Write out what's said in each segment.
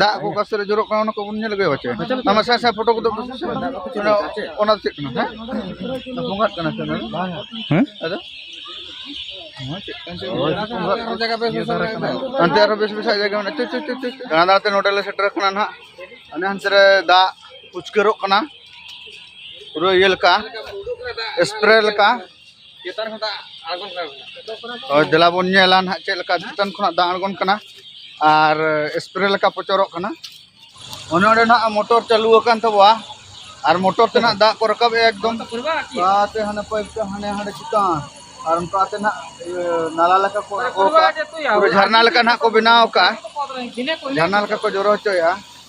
ᱫᱟᱜ ᱠᱚ ᱚᱠᱟ ᱥᱮᱫ ᱨᱮ ᱡᱚᱨᱚᱜ ᱠᱟᱱᱟ ᱚᱱᱟ ᱠᱚᱵᱚᱱ ᱧᱮᱞ ᱟᱹᱜᱩᱭᱟ ᱵᱟᱪᱮ ᱟᱢᱟ ᱥᱟᱭ ᱥᱟᱭ ᱯᱷᱳᱴᱳ ᱠᱚᱫᱚ ᱚᱱᱟ ᱫᱚ ᱪᱮᱫ ᱠᱟᱱᱟ ᱦᱮᱸ ᱵᱚᱸᱜᱟᱜ ᱠᱟᱱᱟ ᱥᱮ ᱚᱱᱟ ᱦᱮᱸ ᱟᱫᱚ ᱟᱱᱛᱮ ᱟᱨᱚ ᱵᱮᱥ ᱵᱮᱥᱟᱜ ᱡᱟᱭᱜᱟ ᱢᱮᱱᱟᱜᱼᱟ ᱪᱩ ᱪᱩ ᱪᱩ ᱪᱩ ᱫᱟᱬᱟ ᱫᱟᱬᱟᱛᱮ ᱱᱚᱰᱮ ᱞᱮ ᱥᱮᱴᱮᱨ ᱟᱠᱟᱱᱟ ᱱᱟᱦᱟᱜ ᱚᱱᱮ ᱦᱟᱱᱛᱮ ᱨᱮ ᱫᱟᱜ ᱩᱪᱠᱟᱹᱨᱚᱜ ᱠᱟᱱᱟ ᱯᱩᱨᱟᱹ ᱤᱭᱟᱹ ᱞᱮᱠᱟ ᱥᱯᱨᱮ ᱞᱮᱠᱟ ᱦᱳᱭ ᱫᱮᱞᱟ ᱵᱚᱱ ᱧᱮᱞᱟ ᱱᱟᱦᱟᱜ ᱪᱮᱫ ᱞᱮᱠᱟ ᱪᱮᱛᱟᱱ ᱠᱷᱚᱱᱟᱜ ᱫᱟᱜ ᱟᱬᱜᱚᱱ ᱠᱟᱱᱟ ᱟᱨ ᱥᱯᱨᱮ ᱞᱮᱠᱟ ᱯᱚᱪᱚᱨᱚᱜ ᱠᱟᱱᱟ ᱚᱱᱮ ᱚᱸᱰᱮ ᱱᱟᱦᱟᱜ ᱢᱚᱴᱚᱨ ᱪᱟᱹᱞᱩ ᱟᱠᱟᱱ ᱛᱟᱵᱚᱣᱟ ᱟᱨ ᱢᱚᱴᱚᱨ ᱛᱮ ᱱᱟᱦᱟᱜ ᱫᱟᱜ ᱠᱚ ᱨᱟᱠᱟᱵ ᱮᱫᱟ ᱮᱠᱫᱚᱢ ᱛᱮ ᱦᱟᱱᱮ ᱯᱟᱭᱤᱯ ᱛᱮ ᱦᱟᱱᱮ ᱦᱟᱸᱰᱮ ᱪᱮᱛᱟᱱ ᱟᱨ ᱚᱱᱠᱟ ᱛᱮ ᱱᱟᱦᱟᱜ ᱱᱟᱞᱟ ᱞᱮᱠᱟ ᱠᱚ ᱟᱬᱜᱚ ᱠᱟᱜᱼᱟ ᱡᱷᱟᱨᱱᱟ ᱞᱮᱠᱟ ᱱᱟᱦᱟᱜ ᱠᱚ ᱵᱮᱱᱟᱣ ᱠᱟᱜᱼᱟ ᱡᱷᱟᱨᱱᱟ ᱞᱮᱠᱟ ᱠᱚ ᱡᱚᱨᱚ ᱦᱚᱪᱚᱭᱮᱫᱼᱟ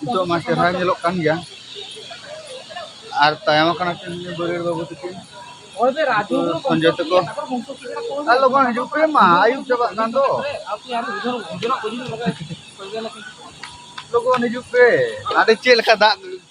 ᱱᱤᱛᱚᱜ ᱢᱟ ᱪᱮᱦᱨᱟ ᱧᱮᱞᱚᱜ ᱠᱟᱱ ᱜᱮᱭᱟ ᱟᱨ ᱛᱟᱭᱚᱢ ᱟᱠᱟᱱᱟ ᱠᱤᱱ ᱵᱟᱹᱨᱭᱟᱹᱲ ᱵᱟᱹᱵᱩ ᱛᱟᱹᱠᱤᱱ ᱥᱚᱧᱡᱚᱭ ᱛᱟᱠᱚ ᱟᱨ ᱞᱚᱜᱚᱱ ᱦᱤᱡᱩᱜ ᱯᱮ ᱢᱟ ᱟᱹᱭᱩᱵ ᱪᱟᱵᱟᱜ ᱠᱟᱱ ᱫᱚ ᱞᱚᱜᱚᱱ ᱦᱤᱡᱩᱜ ᱯᱮ ᱟᱹᱰᱤ ᱪᱮᱫ ᱞᱮᱠᱟ ᱫᱟᱜ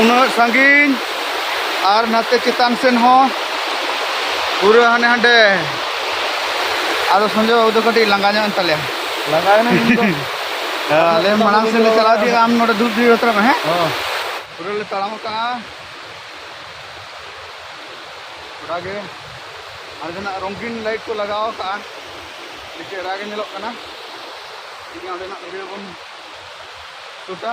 ᱩᱱᱟᱹᱜ ᱥᱟᱺᱜᱤᱧ ᱟᱨ ᱱᱟᱛᱮ ᱪᱮᱛᱟᱱ ᱥᱮᱱ ᱦᱚᱸ ᱯᱩᱨᱟᱹ ᱦᱟᱱᱮ ᱦᱟᱸᱰᱮ ᱟᱫᱚ ᱥᱚᱧᱡᱚᱭ ᱵᱟᱹᱵᱩ ᱫᱚ ᱠᱟᱹᱴᱤᱡ ᱞᱟᱸᱜᱟ ᱧᱚᱜ ᱮᱱ ᱛᱟᱞᱮᱭᱟ ᱞᱟᱸᱜᱟ ᱮᱱᱟᱭ ᱟᱞᱮ ᱢᱟᱲᱟᱝ ᱥᱮᱫ ᱞᱮ ᱪᱟᱞᱟᱣ ᱤᱫᱤᱜᱼᱟ ᱟᱢ ᱱᱚᱰᱮ ᱫᱩᱲᱩᱵ ᱫᱩᱲᱩᱵ ᱦᱟᱛᱟᱲᱚᱜ ᱢᱮ ᱦᱮᱸ ᱯᱩᱨᱟᱹ ᱞᱮ ᱛᱟᱲᱟᱢ ᱟᱠᱟᱜᱼᱟ ᱜᱚᱴᱟ ᱜᱮ ᱟᱨ ᱡᱟᱦᱟᱱᱟᱜ ᱨᱚᱝᱜᱤᱱ ᱞᱟᱭᱤᱴ ᱠᱚ ᱞᱟᱜᱟᱣ ᱟᱠᱟᱜᱼᱟ ᱟᱹᱰᱤ ᱪᱮᱦᱨᱟ ᱜᱮ ᱧᱮᱞᱚᱜ ᱠᱟᱱᱟ ᱴᱷᱤᱠ ᱜᱮᱭᱟ ᱚᱸᱰᱮᱱᱟᱜ ᱵᱷᱤᱰᱤᱭᱳ ᱵᱚᱱ ᱥᱩᱴᱟ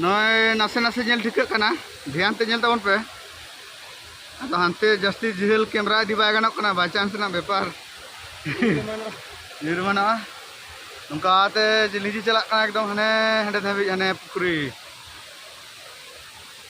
ᱱᱚᱜᱼᱚᱭ ᱱᱟᱥᱮ ᱱᱟᱥᱮ ᱧᱮᱞ ᱴᱷᱤᱠᱟᱹᱜ ᱠᱟᱱᱟ ᱫᱷᱮᱭᱟᱱ ᱛᱮ ᱧᱮᱞ ᱛᱟᱵᱚᱱ ᱯᱮ ᱟᱫᱚ ᱦᱟᱱᱛᱮ ᱡᱟᱹᱥᱛᱤ ᱡᱷᱟᱹᱞ ᱠᱮᱢᱨᱟ ᱤᱫᱤ ᱵᱟᱭ ᱜᱟᱱᱚᱜ ᱠᱟᱱᱟ ᱵᱟᱭ ᱪᱟᱱᱥ ᱨᱮᱱᱟᱜ ᱵᱮᱯᱟᱨ ᱧᱩᱨ ᱮᱢᱟᱱᱚᱜᱼᱟ ᱱᱚᱝᱠᱟᱛᱮ ᱞᱤᱸᱡᱤ ᱪᱟᱞᱟᱜ ᱠᱟᱱᱟ ᱮᱠᱫᱚᱢ ᱦᱟᱱᱮ ᱦᱟᱸᱰᱮ ᱫᱷᱟᱹᱵᱤᱡ ᱦᱟᱱᱮ ᱯᱩᱠᱷᱨᱤ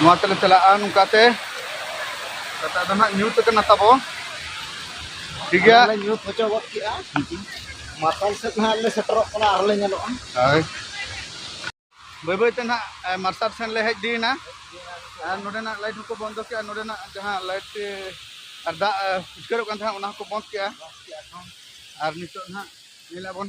ᱱᱚᱣᱟ ᱛᱮᱞᱮ ᱪᱟᱞᱟᱜᱼᱟ ᱱᱚᱝᱠᱟᱛᱮ ᱠᱟᱛᱷᱟ ᱫᱚ ᱱᱟᱜ ᱧᱩᱛ ᱟᱠᱟᱱᱟ ᱛᱟᱵᱚ ᱴᱷᱤᱠ ᱜᱮᱭᱟ ᱧᱩᱛ ᱦᱚᱪᱚ ᱜᱚᱫ ᱠᱮᱜᱼᱟ ᱢᱟᱨᱥᱟᱞ ᱥᱮᱫ ᱱᱟᱦᱟᱜ ᱞᱮ ᱥᱮᱴᱮᱨᱚᱜ ᱠᱟᱱᱟ ᱟᱨᱞᱮ ᱧᱮᱞᱚᱜᱼᱟ ᱦᱳᱭ ᱵᱟᱹᱭ ᱵᱟᱹᱭᱛᱮ ᱱᱟᱜ ᱢᱟᱨᱥᱟᱞ ᱥᱮᱱ ᱞᱮ ᱦᱮᱡ ᱤᱫᱤᱭᱮᱱᱟ ᱟᱨ ᱱᱚᱰᱮᱱᱟᱜ ᱞᱟᱭᱤᱴ ᱦᱚᱸᱠᱚ ᱵᱚᱱᱫᱚ ᱠᱮᱜᱼᱟ ᱱᱚᱰᱮᱱᱟᱜ ᱡᱟᱦᱟᱸ ᱞᱟᱭᱤᱴ ᱟᱨ ᱫᱟᱜ ᱩᱪᱠᱟᱹᱨᱚᱜ ᱠᱟᱱ ᱛᱟᱦᱮᱸᱫ ᱚᱱᱟ ᱦᱚᱸᱠᱚ ᱵᱚᱱᱫ ᱠᱮᱜᱼᱟ ᱟᱨ ᱱᱤᱛᱚᱜ ᱱᱟᱜ ᱧᱮᱞ ᱟᱵᱚᱱ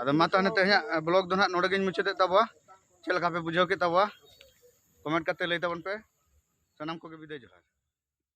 ᱟᱫᱚ ᱢᱟ ᱛᱟᱦᱚᱞᱮ ᱛᱮᱦᱮᱧᱟᱜ ᱵᱞᱚᱜ ᱫᱚ ᱱᱟᱦᱟᱜ ᱱᱚᱰᱮ ᱜᱤᱧ ᱢᱩᱪᱟᱹᱫᱮᱫ ᱛᱟᱵᱚᱣᱟ ᱪᱮᱫ ᱞᱮᱠᱟ ᱯᱮ ᱵᱩᱡᱷᱟᱹᱣ ᱠᱮᱫ ᱛᱟᱵᱚᱣᱟ ᱠᱚᱢᱮᱱᱴ ᱠᱟᱛᱮ ᱞᱟᱹᱭ ᱛᱟᱵᱚᱱ ᱯᱮ ᱥᱟᱱᱟᱢ ᱠᱚᱜᱮ ᱵᱤᱫᱟᱹᱭ ᱡᱚᱦᱟᱨ